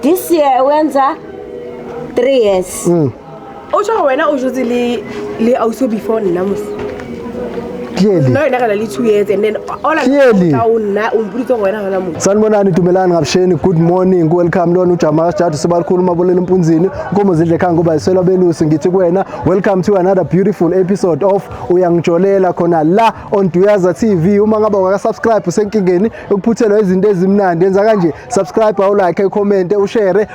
This year wenza 3 years. Mm. Usho wena usho ukuthi li li awuso before nina musi. Clearly. No yena kana li 2 years and then all Clearly. awuna umpulitho wena kana musi. Sanibonani dumelani ngabsheni good morning welcome lona uJamal Jadu sibakhulu maboleni empunzini ukomo zidle khanga kuba isela belusi ngithi kuwena welcome to another beautiful episode of uyangijolela khona la on Duyaza TV uma ngaba waka subscribe usenkingeni yokuphuthelwa izinto ezimnandi yenza kanje subscribe awulike ucommente ushare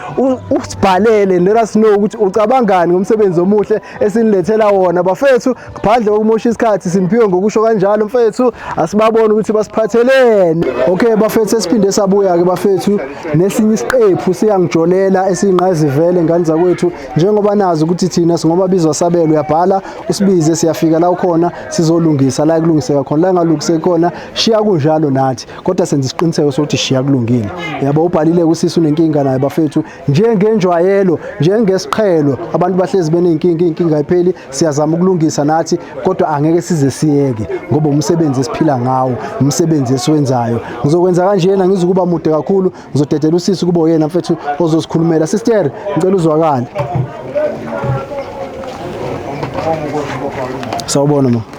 usibhalele let us know ukuthi ucabangani ngomsebenzi omuhle esinilethela wona bafethu ngaphandle kokumosha isikhathi siniphiwe ngokusho kanjalo mfethu asibabone ukuthi basiphatheleni okay bafethu esiphinde sabuya-ke bafethu nesinye isiqephu siyangijolela esiyingqayizivele ngane zakwethu njengoba nazi ukuthi thina singoba bizwa sabelo uyabhala usibize siyafika la ukhona sizolungisa la kulungiseka khona la ngalungiseki khona shiya kunjalo nathi kodwa senza isiqiniseko sokuthi shiya kulungile yabo ubhalile kusisi unenkinga naye bafethu njengenjwayelo njengesiqhelo abantu bahlezi benenkinga inkinga ipheli siyazama ukulungisa nathi kodwa angeke size siyeke ngoba umsebenzi esiphila ngawo umsebenzi esiwenzayo ngizokwenza kanjena ngizukuba mude kakhulu ngizodedela usisi kubo yena mfethu ozosikhulumela sister ngicela uzwakale sawubona ma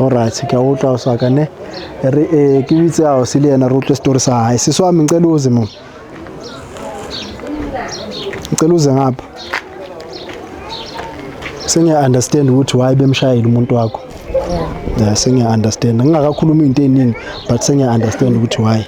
Alright, ke a utlwa o sa ka ne. Re eh ke bitse a o se le yena re utlwe story sa hae. Seso wa mengcela uze mo. Ngicela uze ngapha. Sengiya understand ukuthi why bemshayile umuntu wakho. Yeah, sengiya understand. Ngingakakhuluma into eziningi but sengiya understand ukuthi why.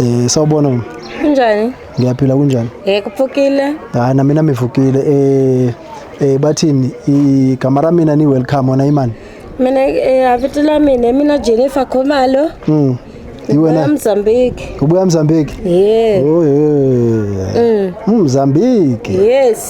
Eh sawubona mama. Kunjani? Ngiyaphila kunjani? Eh kuphukile. Hayi na mina mivukile eh eh bathini igama ra mina ni welcome wena imani. Mina eh avito la mina mina Jennifer Khumalo. Mm. Iwena Mozambique. Ubuya Mozambique? Yes. Oh yeah. Mm. Mozambique. Yes.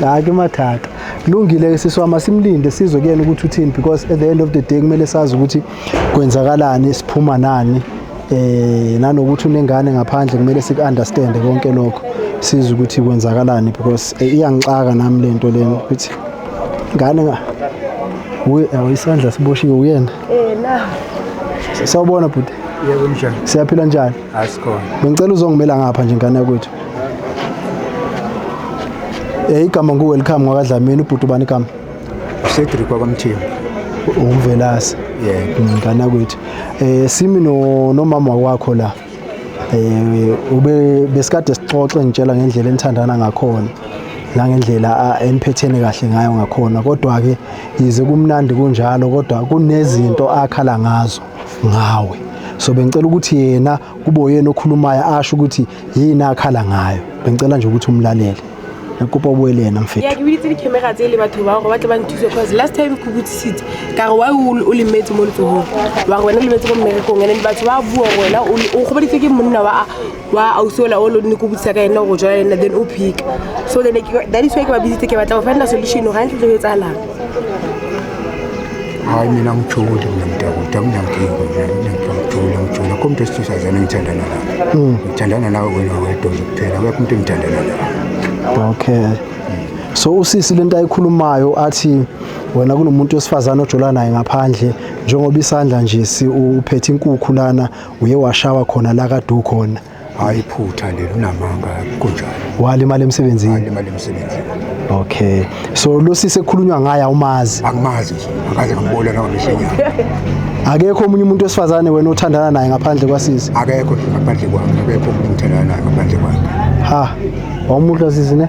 hayi ke mathatha kulungile-ke sisi wami asimlinde sizwe kuyena ukuthi uthini because at the end of the day kumele sazi ukuthi kwenzakalani siphuma nani eh nanokuthi unengane ngaphandle kumele siku-understande konke lokho size ukuthi kwenzakalani because eh, iyangixaka nami le nto lena ukuthi ngane nga isandla siboshiwe uyena eh na sawubona bhuti yebo mjani siyaphila njani Asikhona. Bengicela uzongimela ngapha nje ngane yakwethu. Eh igama ngu welcome ngwakadlamini ubhuti ubani igama? Cedric wakwamthimba. Umvelase. Yebo. Ngane yakwethu. Eh simi no nomama wakho la. Eh ube besikade sixoxe ngitshela ngendlela enithandana ngakhona. nangendlela eniphethene kahle ngayo ngakhona kodwa ke yize kumnandi kunjalo kodwa kunezinto akhala ngazo ngawe so bengicela ukuthi yena kube uyena okhulumayo asho ukuthi yini akhala ngayo bengicela nje ukuthi umlalele kopa o bue le ena mfeto ya ke biditse di-camera tse le batho bao gore ba tle ba nthuse cause last time ke botsisitse ka re wa o lemetse mo letsogong wa re wena o lemetse mo mmerekong and then batho ba bua wena o kgobaditse ke monna wa wa ausi ola o lone ko botsa ka ena go jala ena then o phika so then that is why ke ba bitsitse ke batla go fanna solution ga ntle tlo etsalang hayi mina ngijule mina mntakude amnankinga ngijula ngijula ko mntu esithisazana ngithandana nawe hmm. ngithandana nawe wena wedwa nje kuphela akekho umntu engithandana nawe okay so usisi lento ayikhulumayo athi wena kunomuntu wesifazane ojula naye ngaphandle njengoba isandla nje uphethe inkukhu lana uye washawa khona la kade ukhona hayi phutha leli unamanga kunjalo walimala emsebenzini walimala emsebenzini okay so lo sisi ekhulunywa ngaye awumazi angimazi nje akaze ngambona nawo mihlenyana akekho omunye umuntu wesifazane wena othandana naye ngaphandle kwasisi akekho ngaphandle kwami akekho umuntu othandana naye ngaphandle kwami ha wawumuhla sisi ne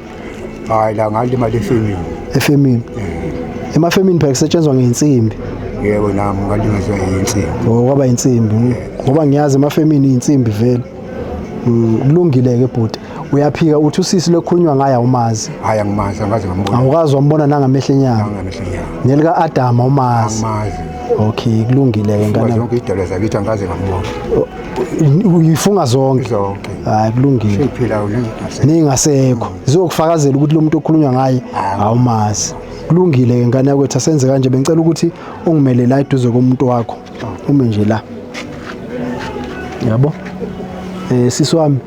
hayi la ngalimala efemini efemini eh. emafemini phela kusetshenzwa ngeinsimbi yebo nami ngalimazwa yinsimbi oh kwaba insimbi eh. ngoba ngiyazi emafemini insimbi vele mm, kulungile ke bhuti uyaphika uthi usisi lokhulunywa ngaye awumazi hayi angimazi angazi ngambona awukazi wambona nangamehlo enyama nangamehlo enyama nelika Adam awumazi angimazi okay kulungile ke ngane zonke idolo zakithi angazi ngambona oh. uyifunga zonke zonke hayi kulungile siphila ulingasekho ningasekho zizokufakazela ukuthi lo muntu okhulunywa ngaye awumazi kulungile ke ngane yakwethu asenze kanje bengicela ukuthi ungimele la eduze komuntu wakho ume nje la yabo eh sisi wami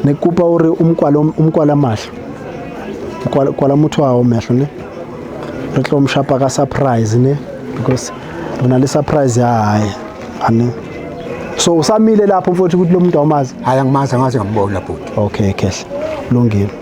ne kupa uri umkwala umkwala mahlo kwala kwala motho ao mehlo ne re tlo mshapa ka surprise ne because re na le surprise ya hae ane so usamile lapho mfowethu ukuthi lo muntu awumazi hayi angimazi angazi ngambona bhuti okay kehle lungile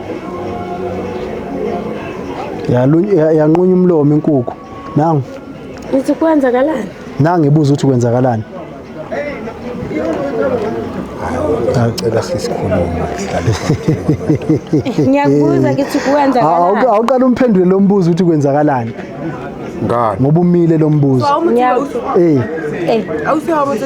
yanqunya umlomo inkukhu nangu uthi kwenzakalani nangu ibuza ukuthi kwenzakalani Ngicela sisikhulume sihlale. Ngiyakubuza ukuthi kwenzakalani. Awuqala umphendule lo mbuzo ukuthi kwenzakalani. Ngani? Ngoba umile lo mbuzo. Eh. Eh. Awusihawo ukuthi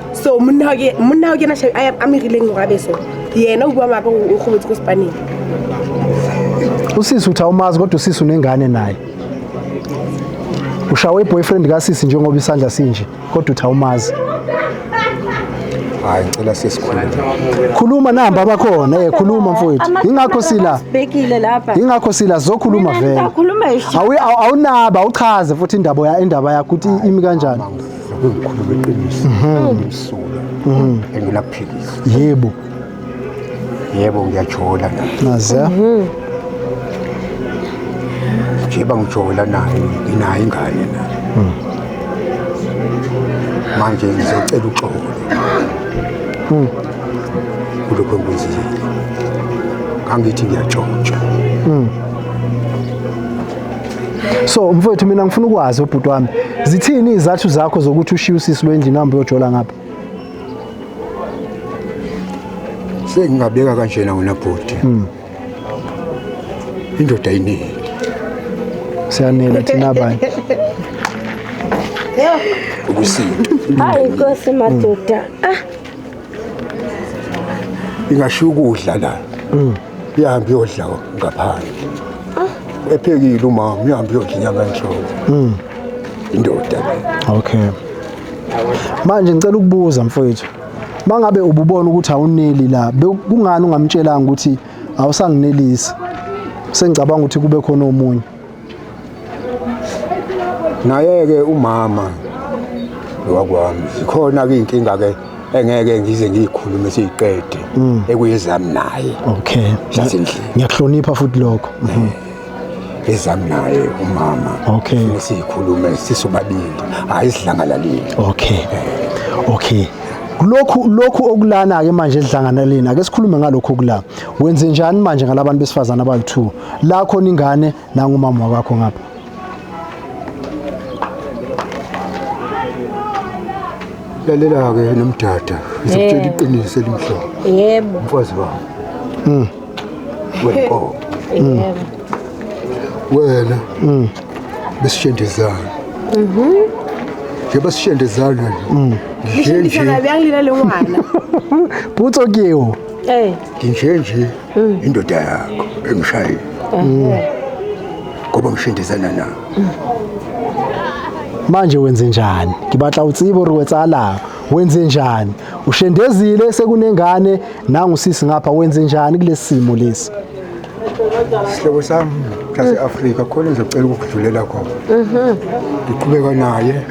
so monna wa ke monna wa ke na shabi a mirileng go abeso yena o bua maaka o gobotse ko sepaneng usisi uthi awumazi kodwa usisi unengane naye ushawe iboyfriend kasisi njengoba isandla sinje kodwa uthi awumazi hayi ngicela sisikhuluma khuluma namba abakhona eh khuluma mfowethu ingakho sila bekile lapha ingakho sila zokhuluma vele awunaba awuchaze futhi indaba ya indaba yakho ukuthi imi kanjani Ukukhuluma iqiniso ngimsula engilaphikisa. Yebo. Yebo ngiyajola la. Naze. Ngiba ngijola naye nginayo ingane la. Manje ngizocela uxolo. Kulokho engizile. Kangithi ngiyajotsha. so mfowethu mina ngifuna ukwazi ubhuti wami zithini izathu zakho zokuthi ushiye usisi lwendlini hambe uyojola ngapha sengingabeka kanjena wena bhuti hmm. indoda iningi siyanela thina abanye ukusinda hayi nkosi madoda ah ingashiya ukudla la hmm. ihambe iyodla ngaphandle ah. ephekile umama uhambe uyodla inyama enhloko hmm. indoda okay manje ngicela ukubuza mfowethu mangabe ububona ukuthi awuneli la kungani ungamtshelanga ukuthi awusanginelisi sengicabanga ukuthi kube khona omunye Naye-ke umama lowakwami zikhona-ke iy'nkinga-ke engeke ngize ngiyikhulume siyiqede mm. ekuyezami naye okay zasendlini ngiyakuhlonipha futhi lokho mhm. ezami naye umama okay siyikhulume sisobabili hayi sidlangalalile okay eh. okay lokhu lokhu okulana ke manje edlanganaleni ake sikhulume ngalokhu okulana wenze njani manje ngalabantu besifazana abayi2 la khona ingane nangumama wakho ngapha lalela-ke nomdada ngizokutshela iqiniso elimhlophe yebo mfazi wami mm. wenkomo mm. wena mm. besishendezana mhm. njengoba sishendezana nje nje butso kiwo eh. nje nje mm. indoda yakho engishayile mm. ngoba ngishindisana na mm. manje wenze njani ngibatla utsibo uri wetsala wenze njani ushendezile sekunengane nangusisi ngapha wenze njani kulesi simo lesi sihlobo sami sase-afrika khona ngizocela ukudlulela khona mhm. ngiqhubeka naye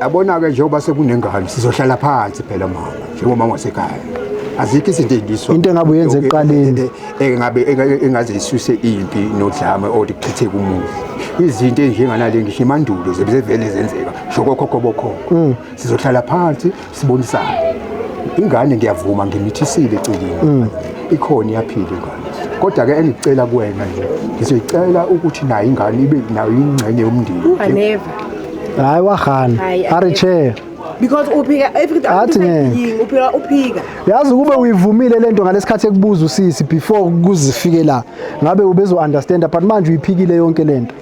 Yabona-ke njengoba sekunengane sizohlala phansi phela mama njengomama wasekhaya azikho izinto ezindiswa into engabe uyenza ekuqaleni engabe engaze isuse impi nodlame oluchithe kumuzi izinto ezinjenganale ngisho imandulo zebezevele zenzeka shokokhokho bokhokho mm. sizohlala phansi sibonisane ingane ngiyavuma ngimithisile eceleni mm. ikhona iyaphila ingane kodwa ke engicela kuwena nje ngizoyicela ukuthi nayo ingane ibe nayo ingxenye yomndeni never hayi wahana ari chair because uphika athi ngeke uphika uphika yazi kube uyivumile lento ngalesikhathi ekubuza usisi before kuzifike la ngabe ubezo understand but manje uyiphikile yonke lento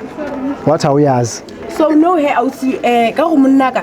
wathi awuyazi so no he awuthi eh ka umunaka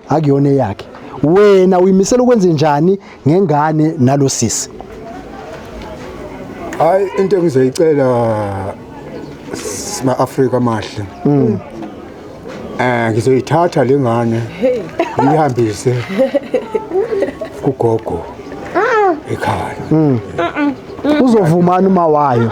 akuyona eyakhe wena uyimisela ukwenza njani ngengane nalosisi hayi into engizoyicela sima Africa amahle mm. eh ngizoyithatha lengane ngihambise kugogo ah. ekhaya mm. uzovumana uma wayo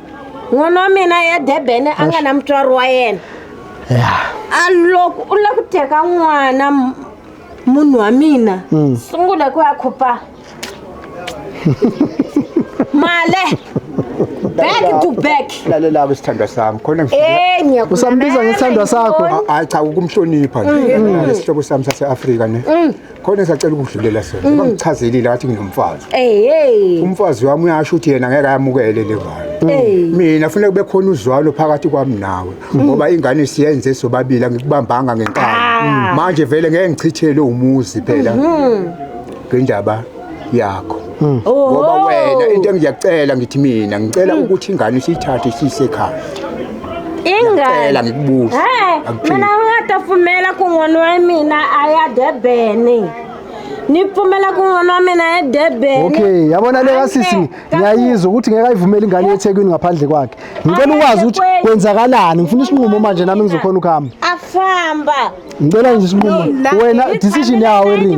n'wana wa mina ya durban a nga na mutswari wa yena ya a loko u lava ku teka n'wana m- munhu wa mina Mm. sungula ku ya khopa male back to back lalelako isithandwa sami khona Eh, ngiyakulamela Usambiza ngesithandwa sakho? inkomo. hayi cha ukumhlonipha nje nalesihlobo sami sase-afrika ne khona esacela ukudlulela sona mm. bangichazelile ngathi nginomfazi hey umfazi wami uyasho ukuthi yena ngeke ayamukele le ngane mina funeka kube khona uzwalo phakathi kwami nawe mm. ngoba ingane siyenze sobabili ngikubambanga ngenkani ah. manje vele ngeke ngichithele umuzi phela mm-hmm. ngendaba yakho hmm. oh. ngoba wena into engiyacela ngithi mina ngicela hmm. ukuthi ingane siyithathe sisekhaya ingane ngikubuza mina ngatafumela kun'wana wa mina a ya debeni ni pfumela kun'wana wa mina ya debeni okay yabona le kasisi ngiyayizwa ukuthi ngeke ayivumele ingane yethekwini ngaphandle kwakhe ngicela ukwazi ukuthi kwenzakalani ngifuna isinqumo manje nami ngizokhona ukuhamba afamba ngicela nje isinqumo wena decision yawo erini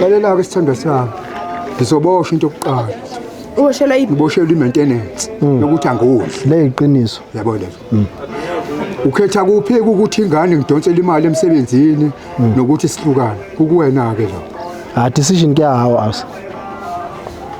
lalela-ke isithandwa sami ngizoboshwa into yokuqala uboshelwa iphi ngiboshelwa i-maintenance hmm. yokuthi angudli le yiqiniso yabo lezo hmm. ukhetha kuphi ukuthi ingane ngidonsele imali emsebenzini hmm. nokuthi sihlukane kukuwena-ke lo ha ah, decision kuyahawa asa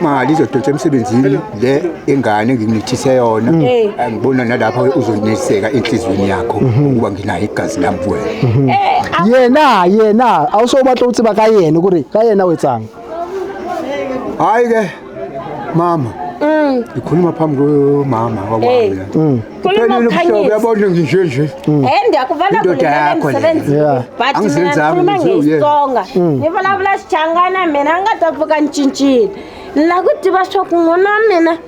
mali izodonsa emsebenzini le ingane nginithise yona mm. eh. angibona nalapha uzoneseka enhlizweni yakho mm-hmm. ukuba nginayo igazi lami kuwena mm-hmm. eh, ah. yena yena awusobatla ukuthi bakayena ukuthi kayena wetsanga hayi ke mama mm. ngikhuluma phambi komama wakwami eh. mm. Khuluma ukhanyise. Uyabona ngisho nje. Hmm. Eh ndiyakuvana kulele msebenzi. But mina khuluma ngesonga. Hmm. Ngivulavula sichangana mina ngatapfuka ncintshile. La kudiba sho kungona mina.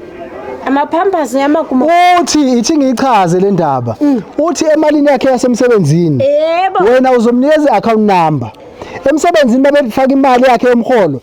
amaphampers yamakuma uthi ithi ngichaze le ndaba mm. uthi emalini yakhe yasemsebenzini wena uzomnikeza i-account number emsebenzini babefaka imali yakhe yomholo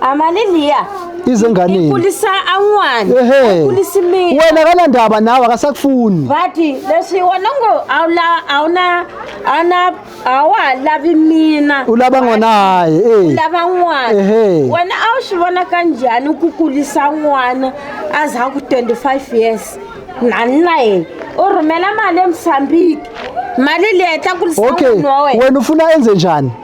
Amalilia. Izenganeni. Ikulisa anwani. Ehe. Ikulisa imini. Wena kana ndaba nawe akasakufuni. Bathi lesi wona ngo awula awuna ana awalavi mina. Ulaba ngona hayi eh. Ulaba ngwana. Ehe. Wena awushibona kanjani ukukulisa ngwana aza ku 25 years. Nani naye. Urumela mali emsambiki. Mali le tla kulisa ngwana wawe. Okay. Wena ufuna enze njani?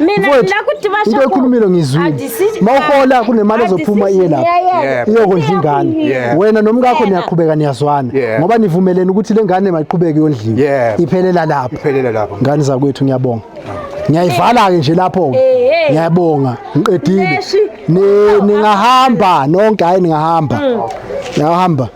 mina Mfowethu, ngila ukuthi into basho ekhulumile ngizwile mawuhola kunemali ezophuma iye lapho Yeah. iyokondla ingane Yeah. wena nomkakho niyaqhubeka niyazwana Yeah. ngoba nivumelene ukuthi le ngane mayiqhubeke yondliwe Yeah. iphelela lapho Iphelela lapho. ngane zakwethu ngiyabonga ngiyayivala-ke nje lapho-ke Eh, eh. ngiyabonga ngiqedile Neshi. Ni- ningahamba nonke hhayi ningahamba niyahamba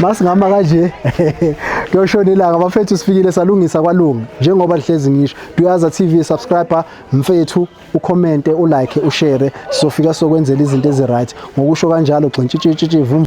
masingama kanje kuyoshona ilanga bafethu sifikile salungisa kwalunga njengoba lihlezi ngisho duyaza tv subscriber mfethu ucommente ulike ushare sofika sokwenzela izinto eziright ngokusho kanjalo gxintshitshitshi vum